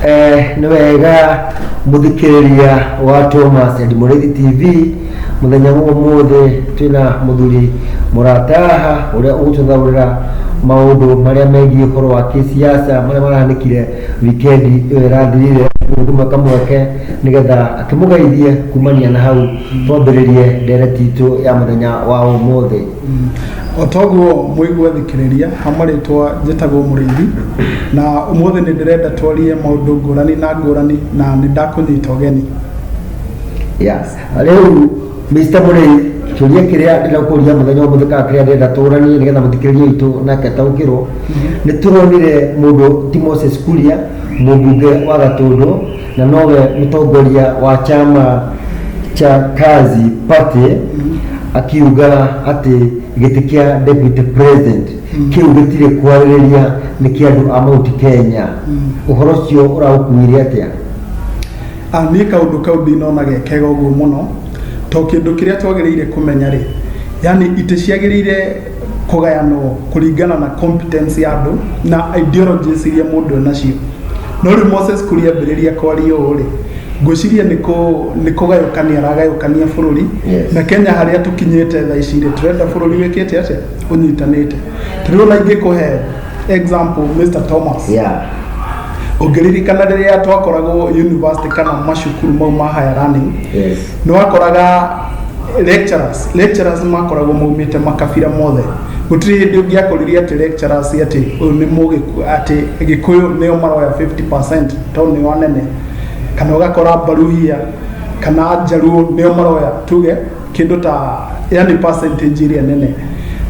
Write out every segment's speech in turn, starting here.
Eh, nĩ wega mũthikĩrĩria wa Thomas and Mũrĩthi TV mũthenya wa ũmũthĩ twĩna mũthuri mũrata haha ũrĩa ũgũtũthaũrĩra maũndũ marĩa megiĩ ũhoro wa kĩsiasa marĩa marahanĩkire wikendi ĩyo ĩrathirire nĩ kũmweka mweke nĩgetha akĩmũgeithie kumania na hau twambĩrĩrie ndereti itũ ya mũthenya wa ũmũthĩ o toguo mũigua thikĩrĩria ha marĩtwa njĩtagwo mũrĩithi na ũmũthĩ nĩ ndĩrenda twarie maũndũ ngũrani na ngũrani na nĩ ndakũnyita ũgeni Yes. Rĩu Mr. Mũrĩi kĩũria kĩrĩa ndĩna kũria mũthenya ũmũthĩ kana kĩrĩa ndĩrenda tũranie nĩgetha mũthikĩrĩria witũ nake ataũkĩrwo nĩ tũronire mũndũ ti Moses Kuria mũmbunge wa Gatũndũ na nowe mũtongoria wa chama cha kazi party akiuga atĩ gĩtĩ kĩa deputy president kĩu gĩtirĩ kwarĩrĩria nĩ kĩa andũ a mauti kenya ũhoro ũcio ũraũkuire atĩa Ah, niĩ kaũndũ kau ndinona gekega ũguo mũno to kĩndũ kĩrĩa twagĩrĩire kũmenya rĩ yani itĩ ciagĩrĩire kũgayanwo kũringana na competence ya andũ na ideologies iria mũndũ enacio no rĩu Moses Kuria ambĩrĩria kwaria ũũ rĩ ngwĩciria nĩ kũ- nĩ kũgayũkania aragayũkania bũrũri Yes. na Kenya harĩa tũkinyĩte thaa ici rĩ tũrenda bũrũri wĩkĩte atĩa ũnyitanĩte tũrĩo na ingĩkũhe example Mr Thomas yeah ũngĩririkana rĩrĩa twakoragwo university kana macukuru mau ma higher learning yes nĩ wakoraga lecturers lecturers makoragwo maumĩte makabira mothe gũtirĩ hĩndĩ ũngĩakoririe atĩ lecturers atĩ ũyũ nĩ mũgĩkũ atĩ gĩkũyũ nĩo maroya 50% tondũ nĩo anene kana ũgakora mbaruhia kana njaruo nĩo maroya tuge kĩndũ ta yani percentage ĩrĩa nene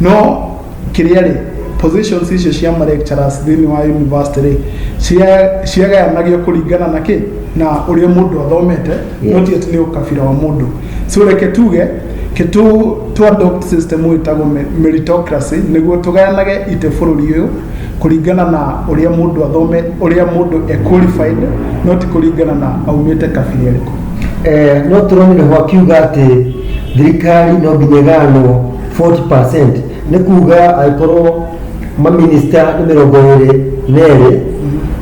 no kĩrĩa rĩ positions icio cia ma lecturers thĩinĩ wa university rĩ cia- ciagayanagio kũringana na kĩ na ũrĩa mũndũ athomete Yes. not yet nĩ ũkabira wa mũndũ so reke tuge kĩtu tu adopt system ũyũ ĩtagwo me- meritocracy nĩguo tũgayanage ite bũrũri ũyũ kũringana na ũrĩa mũndũ athome ũrĩa mũndũ e qualified not kũringana na aumĩte kabira ĩrĩkũ Eh, no tũrone ho akiuga atĩ thirikari no nginya ĩgayanwo 40% nĩ kuga angĩkorwo maminista nĩ mĩrongo ĩrĩ na erĩ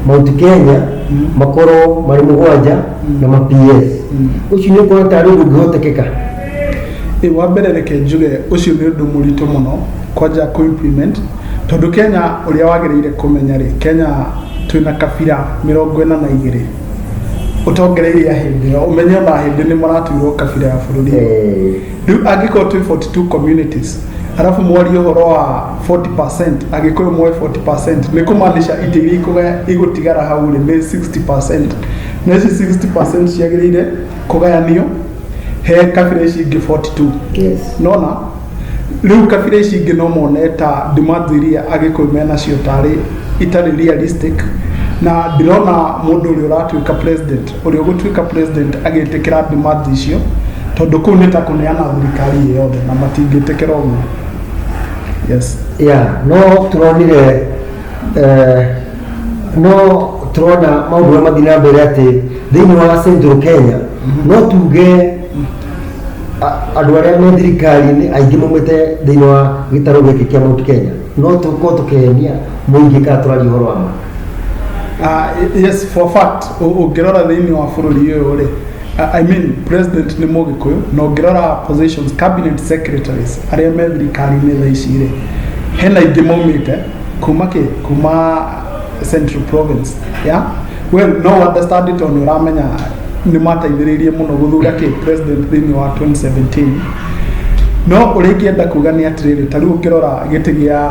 mount kenya makorwo marĩ mũgwanja na ma ps ũcio nĩ ũkuona tarĩ ũndũ ũngĩhotekeka Ĩ, wa mbere reke njuge ũcio nĩ ũndũ mũritũ mũno kwanja kũ implement tondũ kenya ũrĩa wagĩrĩire kũmenya rĩ kenya twĩna kabira mĩrongo ĩna na igĩrĩ ũtongereire ahĩndĩ ĩyo ũmenye ona ahĩndĩ nĩ maratuirwo kabira ya bũrũri Eh, rĩu angĩkorwo twĩ 42 communities arabu mwarie ũhoro wa 40% agĩkũyũ moe 40% nĩ kũmaanisha itĩ iria ikũgaya igũtigara hau rĩ nĩ 60% na ici 60% ciagĩrĩire kũgayanio he kabira ici ingĩ 42 Yes. nona rĩu kabira ici ingĩ no mone ta demands iria agĩkũyũ menacio tarĩ itarĩ realistic na ndĩrona mũndũ ũrĩa ũratuĩka president ũrĩa ũgũtuĩka president agĩtĩkĩra demand icio tondũ kũu nĩ ta kũneana thirikari ĩyo yothe na matingĩtĩkĩra ũguo yes ya no tũronire eh, no tũrona maũndũ marĩa mathiĩ na mbere atĩ thĩinĩ wa central kenya no tuge a- andũ arĩa me thirikari-inĩ aingĩ maumĩte thĩinĩ wa gĩtarũ gĩkĩ kĩa mount kenya no tũkorwo tũkĩhenia mũingĩ kana tũraria ũhoro wa ma Ah, yes for fact ũ- ũngĩrora thĩinĩ wa bũrũri ũyũ rĩ ah, I mean president nĩ mũgĩkũyũ na ũngĩrora positions cabinet secretaries arĩa me thirikari-inĩ thaa ici rĩ hena ingĩ maumĩte kuma kĩ kuma central province yeah? well no understand it on ũramenya nĩ mateithĩrĩirie mũno gũthura kĩ president thĩinĩ wa 2017 no ũrĩa ingĩenda kuga nĩ atĩrĩrĩ ta rĩu ũkĩrora gĩtĩ gĩa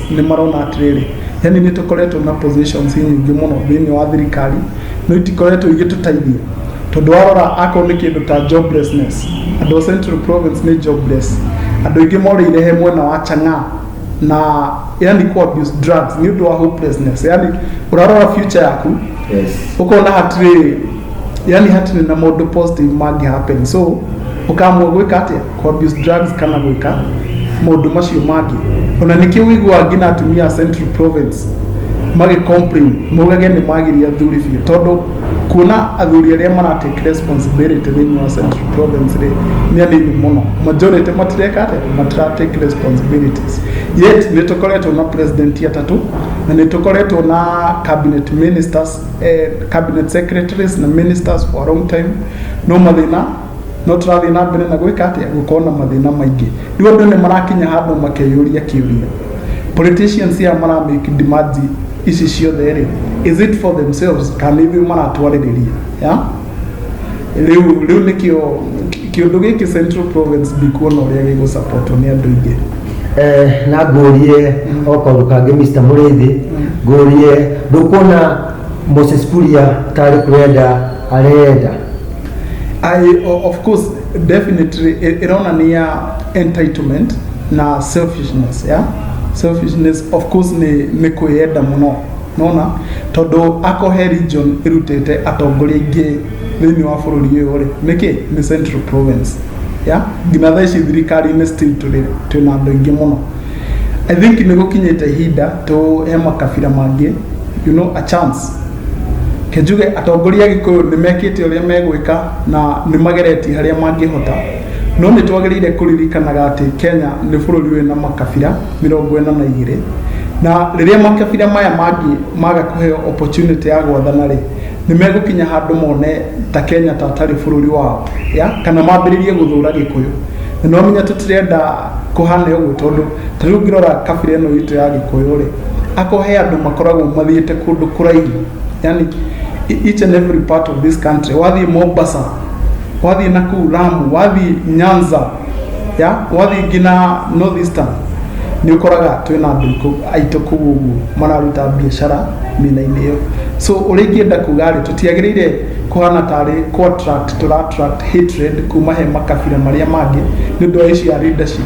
nĩ marona atĩrĩrĩ yani nĩ tũkoretwo na positions nyingĩ mũno thĩinĩ wa thirikari no itikoretwo igĩtũteithia tondũ warora akorwo nĩ kĩndũ ta joblessness andũ a central province nĩ jobless andũ aingĩ morĩire he mwena wa chang'aa na yani ku abuse drugs nĩ ũndũ wa hopelessness yani ũrarora future yaku Yes. ũkona hatirĩ yani hatirĩ na maũndũ positive mangĩ happen so ũkamua gwĩka atĩa kũ abuse drugs kana gwĩka maũndũ macio mangĩ ona nĩkĩ ũiguaga nginya atumia a central province magĩ complain maugage nĩ magiria athuri biũ tondũ kuona athuri arĩa maratake responsibility thĩinĩ wa central province rĩ nĩ anini mũno majority matireka atĩa matiratake responsibilities yet nĩ tũkoretwo na president atatũ na nĩ tũkoretwo na cabinet ministers eh, cabinet secretaries na ministers for a long time no mathĩna no tũrathiĩ na mbere na gwĩka atĩa gũkorwo na mathĩna maingĩ rĩu andũ nĩ marakinya handũ makeyũria kĩũria politicians aya maramake demand ici ciothe rĩ is it for themselves kana ithuĩ maratwarĩrĩria ya rĩu rĩu nĩkĩo kĩũndũ gĩkĩ central province ndikuona ũrĩa gĩgũsapotwo nĩ andũ aingĩ Eh, na ngũrie o kaũndũ kangĩ Mr. Mũrĩithi ngũrie ndũkuona Moses Kuria tarĩ kwenda arenda I, o- of course definitely i- ironania entitlement na selfishness yeah? selfishness of course ni, ni kwĩyenda mũno nona tondũ akohe region ĩrutĩte atongoria ingĩ thĩinĩ wa bũrũri ũyũ rĩ nĩkĩ nĩ central province yeah? nginya thaa ici thirikari-inĩ still tũrĩ twĩna andũ aingĩ mũno i think nĩ gũkinyĩte ihinda tũhe makabira mangĩ you know a chance Njuge atongoria a Gĩkũyũ nĩ mekĩte ũrĩa megwĩka na nĩ mageretie harĩa mangĩhota, no nĩ twagĩrĩire kũririkanaga atĩ Kenya nĩ bũrũri wĩna makabira mĩrongo ĩna na igĩrĩ, na rĩrĩa makabira maya mangĩ maga kũheo opportunity ya gwathana rĩ, nĩ megũkinya handũ mone ta Kenya ta atarĩ bũrũri wao, kana mambĩrĩrie gũthũra Gĩkũyũ. Na nĩ wamenya tũtirenda kũhane ũguo tondũ ta rĩu ngĩrora kabira ĩno itũ ya gĩkũyũ rĩ ako he andũ makoragwo mathiĩte kũndũ kũraihu yani e- each and every part of this country wathiĩ mombasa wathiĩ nakuu lamu wathiĩ nyanza ya wathiĩ nginya north eastern nĩ ũkoraga twĩ na andũ ikũ- aitũ kũu ũguo mararuta biacara mĩena-inĩ ĩyo so ũrĩa ingĩenda kuga rĩ tũtiagĩrĩire kũhana tarĩ contract tũrattract hatred kuma he makabira marĩa mangĩ nĩ ũndũ wa ici ya leadership